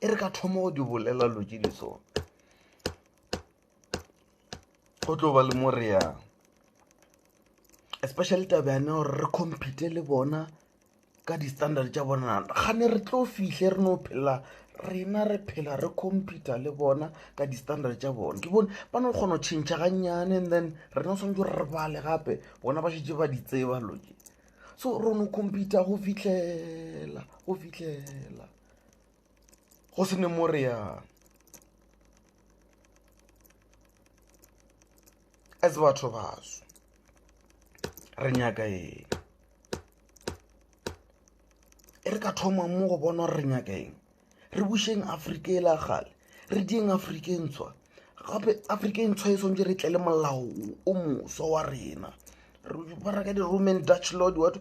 e re ka thoma go di bolela lo tše di sona go tlo ba le mo re yang especially taba yane gore re compete le bona ka di-standard tša bona ga ne re tlo fihle re no phela rena re phela re computer le bona ka di-standard tša bona ke bone ba no kgona go tšhentšha gannyane and then rena o tshwanetse re bale gape bona ba šetse ba di tseba loke so ro no compete go fihlela go fihlela go se ne mo re yang as batho baso re nyaka eng e re ka thoma mo go bona gore re nyaka eng re bušeng afrika e la gale re dieng afrika e ntshwa gape afrika e ntshwa e swantse re tle le molao o moswa wa rena baraka di-roman dutch lord wato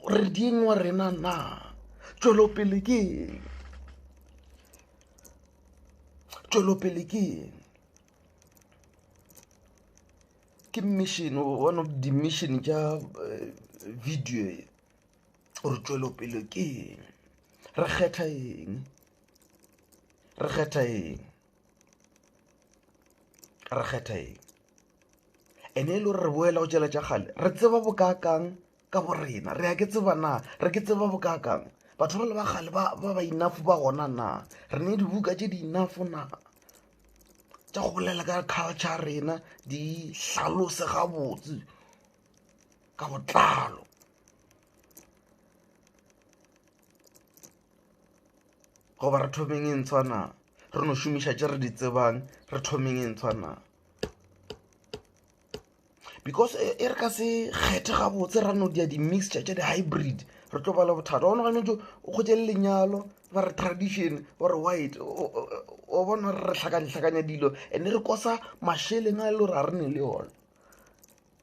re dieng wa rena na tšwelopele ke eng tšwelopele ke eng ke mission one of di-mission tša eh, video e gore tšwelopele ke eng re kgetha eng re kgetha eng re kgetha eng ene e le gore re boela go tšela tša kgale re tseba bokaakang ka bo rena re ya ke tseba na re ke tseba bokaakang batho ba le ba kgale ba ba inafo ba gona na re ne dibuka tše di inafo na tša go bolela ka culture rena di hlalose gabotse ka botlalo goba re thomeng e ntshwa na re no šomiša tše re di tsebang re thomeng e ntshwa na because e, e re ka se kgethe gabotse ra no dia di-mixture tša di-hybrid re tlo bala bothata gona gane jo o kgotse le lenyalo ba re tradition ba re white o bona re re tlhakane-tlhakanya dilo and-e re kosa mašeleng a e le gore ga re ne le yone